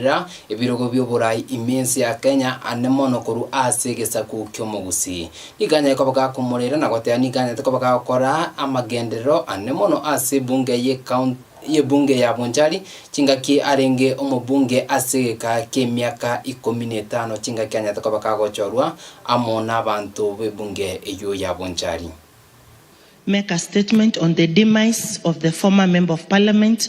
Rora, ebirogo bi'oborai ime ense ya Kenya ande mono korwa ase egesaku ki'omogusi. Nikanyare koba gakomorera na goteba nikanyarete koba gagokora amagenderero ande mono ase ebunge ye coun y'ebunge ya Bonchari chingaki arenge omobunge ase egeka ki'emiaka ikomi netano chingaki anyarete koba gagochorwa amo nabanto b'ebunge eyio ya Bonchari. make a statement on the demise of the former Member of Parliament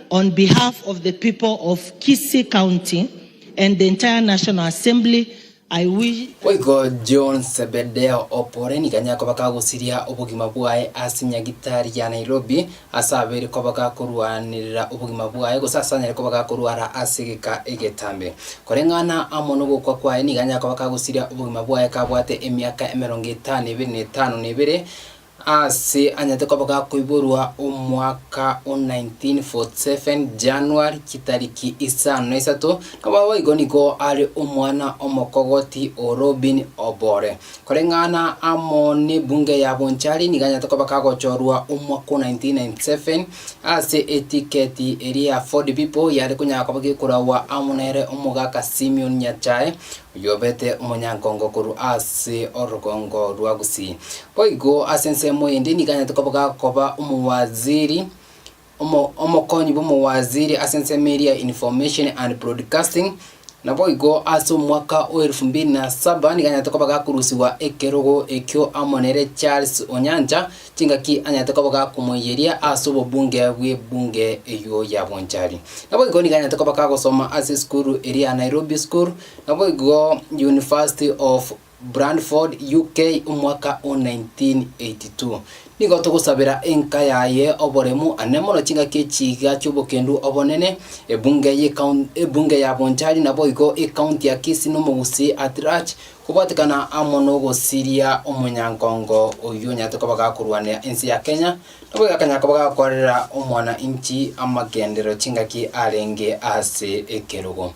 On behalf of the people of Kisii County and the entire National Assembly, I wish. Boigo John Zebedeo Opore nigo nyakoba gagosiria obogima bwaye ase nyagitari ya Nairobi, ase abeire koba gakorwanerera obogima bwaye gose ase anyare koba gakorwara ase egeka egetambe. Koreng'ana amo nogokwa kwaye nigo anyakoba gagosiria obogima bwaye kabwate emiaka emerongo etano ebere na etano na ebere Aase anyete koba gakoiborwa omwaka o 1947 January chitariki isano na isato, nabo boigo nigo are omwana omokogoti o Robin Obore. Koreng'ana amo n'ebunge ya Bonchari nigo anyete koba gagochorwa omwaka o 1997 ase etiketi eria ya Ford People yare konyara koba gekoraua amo nere omogaka Simeon Nyachae Oyobete omonyankongo korwa ase orogongo rwa Gusii. Boigo ase ensemo ende nigo anyarete koboga koba omowaziri, omo, omokonyi bw'omowaziri ase ensemo eria ya Information and Broadcasting, naboigo ase omwaka o elfu mbili na saba nigo anyarete koboga korusigwa ekerogo ekio amo nere Charles Onyancha, Chingaki anyarete koba gakomoiyeria ase obobunge bw'ebunge eyio ya Bonchari. Naboigo nigo anyarete koba gagosoma ase esukuru eria ya Nairobi School, naboigo University of Bradford, UK, omwaka o 1982. Nigo togosabera enka yaye oboremu ane mono chingaki echiga chi'obokendu obonene, ebunge y'ecoun ebunge ya Bonchari naboigo ecounty ya Kisii nomogusii at large Kobwatekana amo nogosiria omonyankongo oyio onyarete koba gakorwanera ense ya Kenya, nabo egakanya koba gakorera omwana inchi amagenderero chingaki arenge ase ekerogo.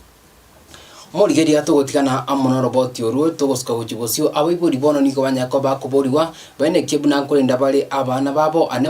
Omorigeria togotigana amo noroboti orwo, togosuka gochia bosio, abaibori bono nigo banyare koba bakoborigwa, bainakie buna nkorenda bare abana babo, ane